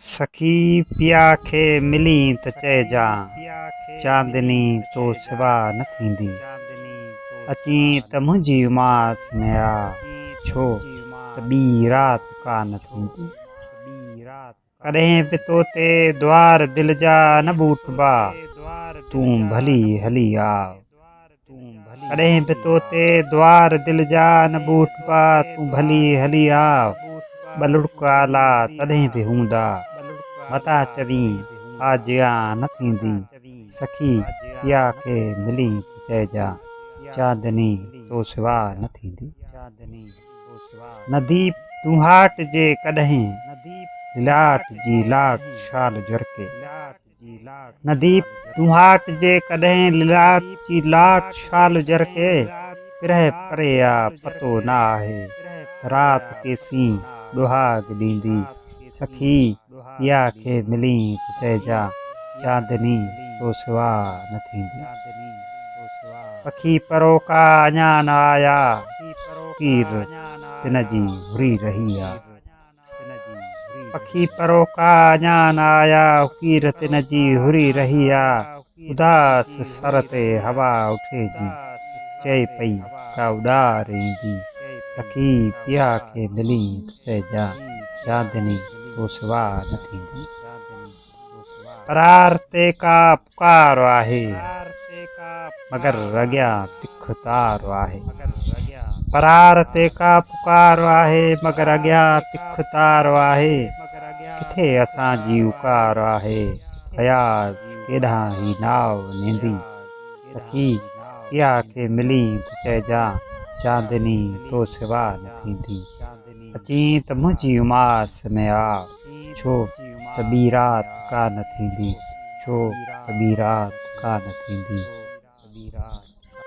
سخي پيا کي ملين ته چئجان، چاندني تو سوا نه ٿيندي. اچين ته منهنجي اماس ۾ آ، ڇو ته ٻي رات ڪا نه ٿيندي. ڪڏهن به تو تي دوار دل جا نه ٻوٽبا، تون ڀلي هلي آء. ڪڏهن به تو تي دوار دل جا نه ٻوٽ پا تون ڀلي هلي آء ٻه لڙڪ آلا تڏهن به هوندا متا چوين آء جيا نه ٿيندين سخي پيا کي ملين ته چئجان چاندني تو سوا نه ٿيندي نديپ تون هاٽ جي ڪڏهن للاٽ جي لاٽ شال جرڪي. نديپ دونهاٽ جي ڪڏهن للاٽ جي لاٽ شال جرڪي پرهه پري آ پتو نه آهي رات ڪيسين ڏوهاڳ ڏيندي سخي پيا کي ملين ته چئجان چاندني تو سوا نه ٿيندي پکي پروڪا اڃا نه آيا پير تن جي هري رهي آ. پکي پروڪا اڃا نه آيا اڪير تن جي هري رهي آ اداس سر تي هوا اٺي جي چئي پئي ڪا اڏار ايندي سخي پيا کي ملين ته چئجان چاندني تو سوا نه ٿيندي. قرار تي ڪا پڪار آهي مگر اڳيان تک تار آهي قرار تي ڪا پڪار آهي مگر اڳيان تک تار آهي ڪٿي اسان جي اوڪار آهي اياز ڪيڏانهن هي ناء نيندي سکي ڪيا کي ملين ته چئجان چاندني تو سوا نه ٿيندي اچين ته منهنجي اماس ۾ آء ڇو ته ٻي رات ڪا نه ٿيندي، ڇو ته ٻي رات ڪا نه ٿيندي.